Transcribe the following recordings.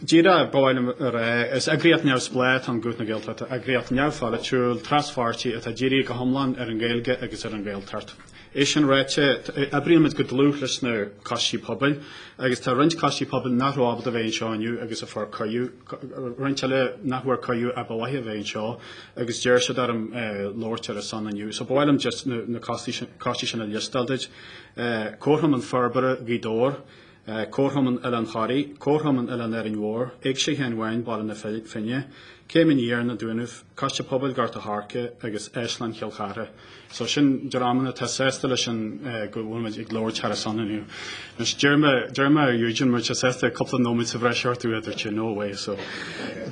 Díreach ba mhaith liom a rá, is eagraíocht neamhspleách an Guth na Gaeltachta, eagraíocht neamhpholaitiúil, traspháirtí atá dírithe go hiomlán ar an Ghaeilge agus ar an Ghaeltacht. É sin ráite, oibrímid go dlúth leis na coistí pobail, agus tá roinnt coistí pobail nach raibh ábalta bheith anseo inniu agus a fuair cuireadh, roinnt eile nach bhfuair cuireadh ar mhaith leo a bheith anseo, agus d'iarr siad orm labhairt ar a son inniu. So ba mhaith liom just na coistí sin a liostáil duit. Comharchumann Forbartha Ghaoth Dobhair. Comharchumann Oileán Thoraigh, Comharchumann Oileán Árainn Mhór, Éigse Sheáin Bháin, Baile na Finne, Céim Aniar, Na Dúnaibh, Coiste Pobail Ghort a' Choirce agus Áislann Chill Chartha. So sin dreamanna atá sásta leis sin go bhfuil muid ag labhairt thar a son inniu. Anois, d'iarr mé, d'iarr mé ar Eugene, má tá sé sásta cúpla nóiméad sa bhreis a thabhairt, dúirt sé, no way. So,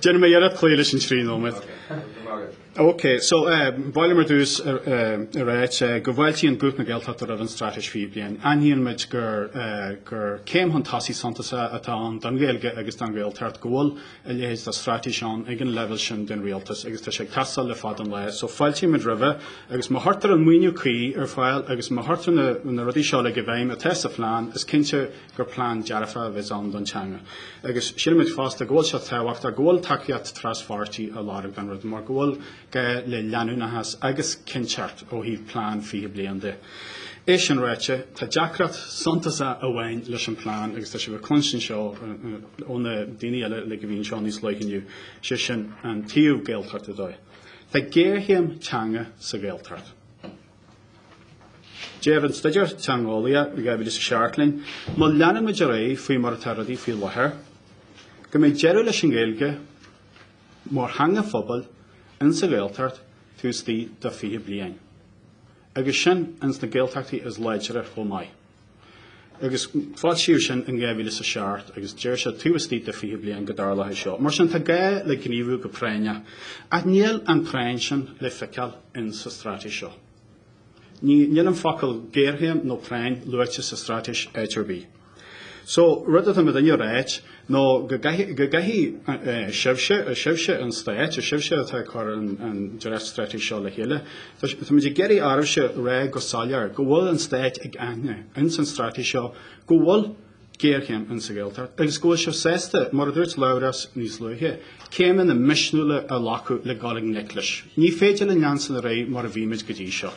déanfaidh mé iarracht cloí leis an trí nóiméad. OK, so ba mhaith liom ar dtús a ráit go bhfáiltíonn Guth na Gaeltachta roimh an Straitéis Fiche Bliain. Aithníonn muid gur céim chun tosaigh suntasach atá ann don Ghaeilge agus don Ghaeltacht go bhfuil a leithéid de straitéis ann ag an leibhéal sin den Rialtas agus tá sé ag teastáil le fada an lae. So fáiltímid roimhe agus má chuirtear an maoiniú cuí ar fáil agus má chuirtear na rudaí seo uilig i bhfeidhm atá sa phlean is cinnte gur plean dearfach a bheas ann don teanga. Agus sílimid fosta go bhfuil sé tábhachtach, go bhfuil tacaíocht traspháirtí á lorg don rud, mar go bhfuil gá le leanúnachas agus cinnteacht ó thaobh plean 20 bliain de. É sin ráite, tá deacracht suntasach amháin leis an bplean agus tá sibh ag cluinstin seo ó na daoine eile uilig a bhí anseo níos luaithe inniu, sé sin an taobh Gaeltachta dó. Tá géarchéim teanga sa Ghaeltacht. Deir an Staidéar Teangeolaíochta 2007 linn, má leanann muid ar aghaidh faoi mar atá rudaí faoi láthair, go mbeidh deireadh leis an nGaeilge mar theanga phobail in sa Ghaeltacht taobh istigh de 20 bliain, agus sin ins na Gaeltachtaí is láidre chomh maith. Agus foilsíodh sin in 2007 agus deir sé taobh istigh de 20 bliain go dtarlódh é seo. Mar sin tá gá le gníomhú go práinneach. Ach níl an práinn sin le feiceáil in sa straitéis seo. Ní, níl an focal géarchéim nó práinn luaite sa straitéis áit ar bith. So, rud atá muidinne a ráit, nó go gcaithfidh sibhse, is sibhse an Stát, is sibhse atá ag cur an dréachtstraitéis seo le chéile, táimid ag iarraidh oraibhse rá go soiléir go bhfuil an Stát ag aithne ins an straitéis seo go bhfuil géarchéim insa Ghaeltacht agus go bhfuil sé sásta, mar a dúirt Labhrás níos luaithe, céimeanna misniúla a ghlacadh le dul i ngleic leis. Ní féidir linn leanstan ar aghaidh mar a bhí muid go dtí seo.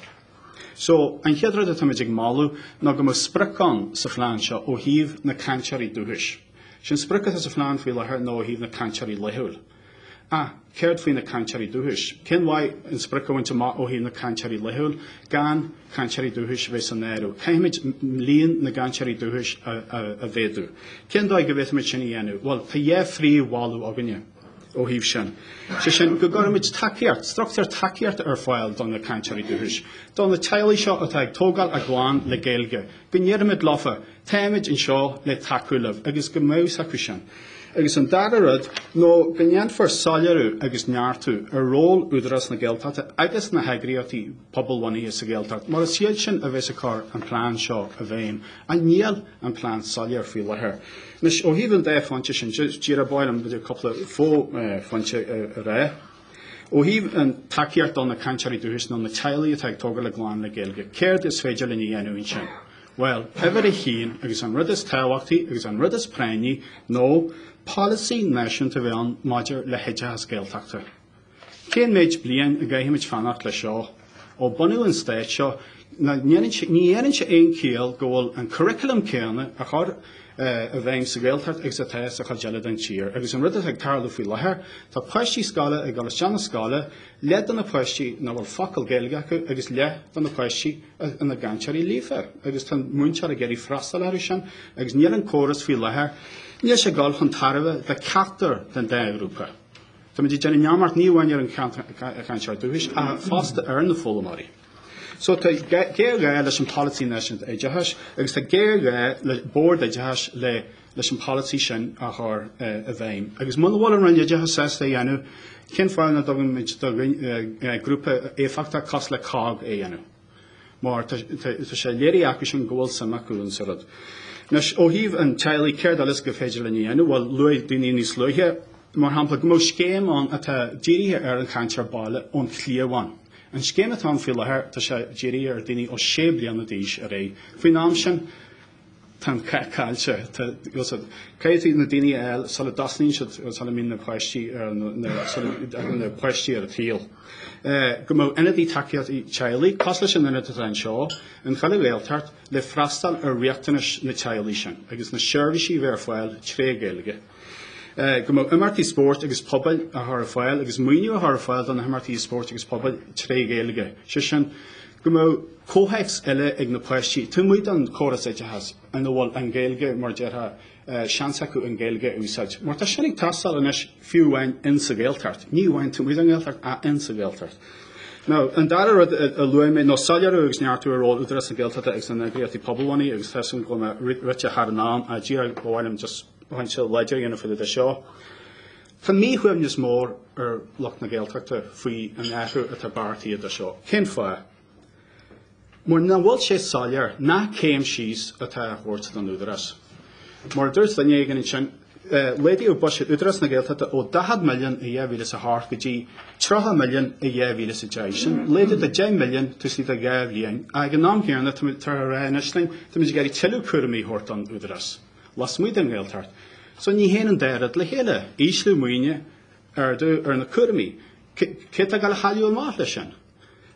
So, an chéad rud atáimid ag moladh ná go mbeadh sprioc ann sa phlean seo ó thaobh na cainteoirí dúchais. Sé an sprioc atá sa phlean faoi láthair nó ó thaobh na cainteoirí laethúil. Ach céard faoi na cainteoirí dúchais? Cén mhaith an sprioc a bhaint amach ó thaobh na cainteoirí laethúil gan cainteoirí dúchais bheith san áireamh? Caithfimid líon na gcainteoirí dúchais a, a, a mhéadú. Cén dóigh go bhféadfaimid sin a dhéanamh? Bhuel, tá dhá phríomh-mholadh againne. ó thaobh sin, sé sin go gcuirfimid tacaíocht, structúr tacaíocht ar fáil do na cainteoirí dúchais, do na teaghlaigh seo atá ag tógáil a gclann le Gaeilge, go ndéarfaimid leofa, táimid anseo le tacú libh agus go mbeadh a fhios acu sin. Agus an dara rud nó go ndéanfar soiléiriú agus neartú ar ról Údarás na Gaeltachta agus na heagraíochtaí pobalbhunaithe sa Ghaeltacht mar is iad sin a bheas ag cur an plean seo i bhfeidhm, ach níl an plean soiléir faoi láthair. Anois, ó thaobh an dá phointe sin, díreach ba mhaith liom b'fhéidir cúpla fó-phointe a rá. Ó thaobh an tacaíocht do na cainteoirí dúchais nó na teaghlaigh atá ag tógáil a gclann le Gaeilge, céard is féidir linn a dhéanamh ansin? Bhuel, uimhir a haon, agus an rud is tábhachtaí agus an rud is práinní, nó polasaí náisiúnta a bheith ann maidir le hoideachas Gaeltachta. Cén méid bliain a gcaithfimid fanacht le seo? Ó bunaíodh an Stát seo, ní dhéanann sé aon chiall go bhfuil an curriculum céanna á chur i bhfeidhm sa Ghaeltacht agus atá sa chuid eile den tír. Agus an rud atá ag tarlú faoi láthair, tá páistí scoile ag dul isteach na scoile, leath de na páistí nach bhfuil focal Gaeilge acu agus leath de na páistí ina gcainteoirí líofa. Agus tá an múinteoir ag iarraidh freastal orthu sin, agus níl an córas faoi láthair, níl sé ag dul chun tairbhe do ceachtar den dá ghrúpa. Táimid ag déanamh neamart ní amháin ar an chainteoir dúchais, ach fosta ar na foghlaimeoirí. So tá géarghá leis an Polasaí Náisiúnta Oideachais agus tá géarghá le Bord Oideachais le leis an polasaí sin a chur i bhfeidhm. Agus muna bhfuil an Roinn Oideachais sásta é a dhéanamh, cén fáth nach dtugaimid do grúpa éifeachtach cosúil le COGG é a dhéanamh? mar tá sé léirithe acu sin go bhfuil suim acu ansa rud. Anois, ó thaobh an teaghlaigh, céard eile is go féidir linn a dhéanamh? Bhuel luaigh daoine níos luaithe, mar shampla, go mbeadh scéim ann atá dírithe ar an chainteoir baile ón chliabhán. An scéim atá ann faoi láthair, tá sé dírithe ar daoine ó sé bliana d'aois ar aghaidh. Faoin am sin, Tá an cath caillte. Caithfidh na daoine a fháil sula dtosnaíonn siad, sula mbíonn na páistí, sula dtagann na páistí ar an tsaol, go mbeadh ionadaí tacaíochta teaghlaigh, cosúil leis an ionad atá anseo, in chuile Ghaeltacht, le freastal ar riachtanais na teaghlaigh sin agus na seirbhísí a bheith ar fáil tré Ghaeilge. go mbeadh imeachtaí spóirt agus pobail a chur ar fáil agus maoiniú a chur ar fáil do na himeachtaí spóirt agus pobail tré Ghaeilge, sé sin, go mbeadh comhthéacs eile ag na páistí, taobh amuigh den córas oideachais ina bhfuil an Ghaeilge, mar a déarfá, seans acu an Ghaeilge a úsáid. Mar tá sin ag teastáil anois fiú amháin insa Ghaeltacht, ní amháin taobh amuigh den Ghaeltacht ach insa Ghaeltacht. Now, an dara rud a luaigh mé ná soiléiriú agus neartú ar ról Údarás na Gaeltachta agus na n-eagraíochtaí pobalbhunaithe agus tá a fhios agam go bhfuil mé rite thar an am, a Dhia, ba mhaith liom just, pointe láidir a dhéanamh fá dtaobh de seo. Tá míshuaimhneas mór ar lucht na Gaeltachta faoi an athrú atá beartaithe anseo. Cén fáth? Mar nach bhfuil sé soiléir nach céim síos atá a thabhairt don údarás. Mar a dúirt duine éigin ansin, eh, laghdaíodh buiséad Údarás na Gaeltachta ó 40 milliún i 2008 go dtí 30 milliún i 2010. Sin laghdú de 10 milliún taobh istigh de dhá bhliain. Ag an am chéanna, táthar ag rá anois linn, tá muid ag iarraidh tuilleadh cúraimí a thabhairt don údarás. lasmuigh den Ghaeltacht, so ní théann an dá rud le chéile, ísliú maoine, ardú ar na cúraimí. Cé atá ag dul a chailleadh amach leis sin?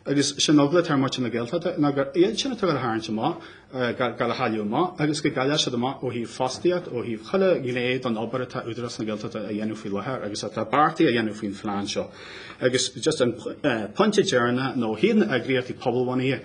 Agus sin an eagla atá ar muintir na Gaeltachta, ná gur iad sin atá ag dul a tharraingt amach, ag dul a chailleadh amach, agus go gcaillfidh siad amach ó thaobh fostaíocht, ó thaobh chuile ghné den obair atá Údarás na Gaeltachta a dhéanamh faoi láthair agus atá beartaithe a dhéanamh faoin phlean seo. Agus just an pointe deireanach, ná na eagraíochtaí pobalbhunaithe,